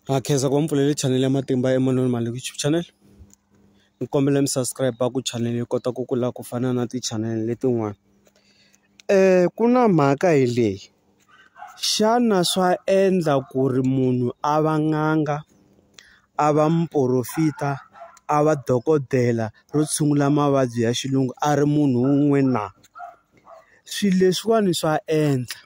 Na khensa ku va mi pfulele chanele ya matimba Emmanuel Maleku YouTube channel ni kombela mi subscribe ku chanele yi kota ku kula ku fana na ti-channel letin'wana ku na mhaka hi leyi xana swa endla ku ri munhu a va n'anga a va muporofita a va dokodela ro tshungula mavabyi ya xilungu a ri munhu wun'we na swilo leswiwani swa endla.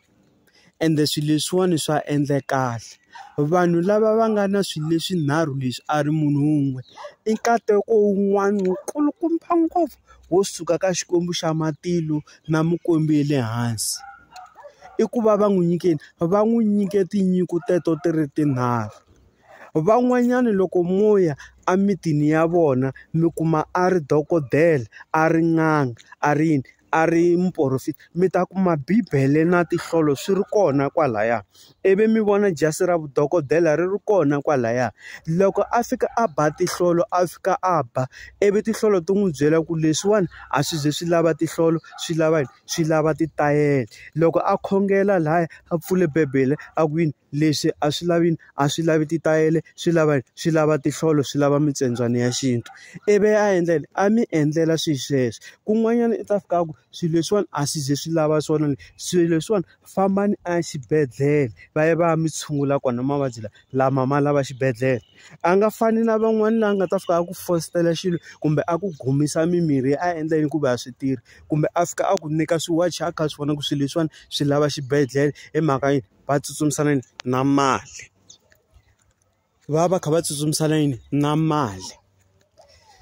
ende swilo leswiwani swa endla kahle. Vanhu lava va nga na swilo leswinharhu leswi a ri munhu wun'we, i nkateko wun'wana wu kulukumba ngopfu wo suka ka Xikwembu xa matilo na mikwembu ya le hansi. I ku va va n'wi nyike yini? Va n'wi nyike tinyiko teto ti ri tinharhu. Van'wanyana loko mo ya emitini ya vona mi kuma a ri dokodela, a ri n'anga, a ri yini. a ri muporofeti mi ta kuma bibele na tinhlolo swi ri kona kwalaya ivi mi vona jasi ra vudokodela ri ri kona kwalaya loko a fika a ba tinhlolo a fika a ba ivi tinhlolo ti n'wi byela ku leswiwani a swi ze swi lava tinhlolo swi lava swi lava titayele loko a khongela laya a pfule bibele a ku yini leswi a swi lavi yini a swi lavi titayele swi lava yini swi lava tinhlolo swi lava mitsembyanyi ya xintu ivi a endla yini a mi endlela swilo sweswo kun'wanyana i ta fika a ku swilo leswiwani a swi ze swi lava swona swilo leswiwani fambani a ya xibedhlele va ya va ya mi tshungula kona mavabyi lawa lama ma lava xibedhlele a nga fani na van'wani laha a nga ta fika a ku fositela xilo kumbe a ku gumisa mimirhi a endla yini ku va a swi tirhi kumbe a fika a ku nyika swiwachi a kha a swi vona ku swilo leswiwani swi lava xibedhlele hi mhaka yini. va tsutsumisa na yini na mali va va kha va tsutsumisa na yini na mali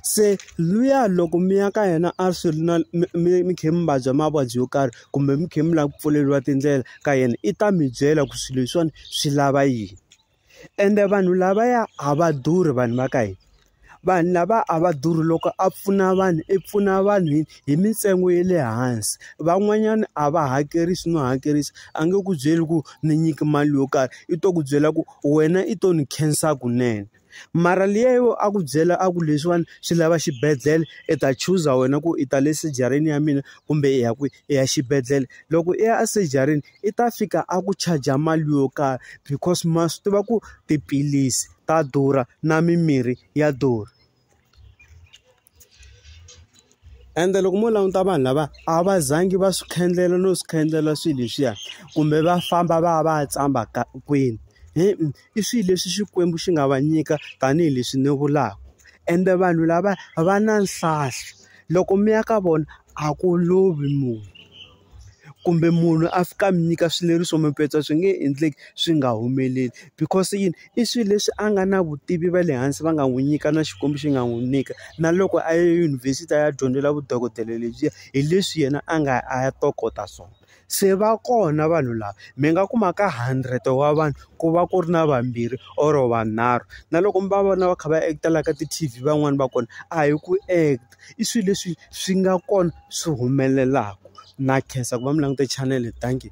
se luya loko mi ya ka yena a swi ri na mi mi kha mi vabya mavabyi yo karhi kumbe mi kha mi lava ku pfuleriwa tindlela ka yena i ta mi byela ku swilo leswiwani swi lava yini. ende vanhu lavaya a va durhi vanhu va ka hina vanhu lava a va durhi loko a pfuna vanhu i pfuna vanhu hi hi mintsengo ya le hansi van'wanyana a va hakerisi no hakerisa a nge ku byeli ku ni nyiki mali yo karhi i to ku byela ku wena i to ni khensa kunene mara liya yo a ku byela a ku leswiwani swi lava xibedhlele i ta chuza wena ku i ta le surgery-ni ya mina kumbe i ya kwihi i ya xibedhlele loko i ya a surgery-ni i ta fika a ku charge-a mali yo karhi because ma swi tiva ku tiphilisi ta durha na mimirhi ya durha. Ende loko mo languta vanhu lava a va zangi va swi khendlela no swi khendlela swilo leswiya, kumbe va famba va ya va ya tshama ka kwini. I swilo leswi Xikwembu xi nga va nyika tanihileswi ni vulaka. Ende vanhu lava va na nhlahlo, loko mi ya ka vona a ku lovi munhu. kumbe munhu a fika a mi nyika swileriso mi petsa swi nge endleki swi nga humeleli because yini i swilo leswi a nga na vutivi va le hansi va nga n'wi nyika na Xikwembu xi nga n'wi nyika na loko a ya eyunivhesiti a ya dyondzela vudokodela lebyiya hi leswi yena a nga a ya tokota swona se va kona vanhu lava mi nga kuma ka hundred wa vanhu ku va ku ri na vambirhi or vanharhu na loko mi va vona va kha va act-a la ka ti-T_V van'wani va kona a hi ku act-a. i swilo leswi swi nga kona swi humelelaka na khensa ku va mi langute chanel thank you.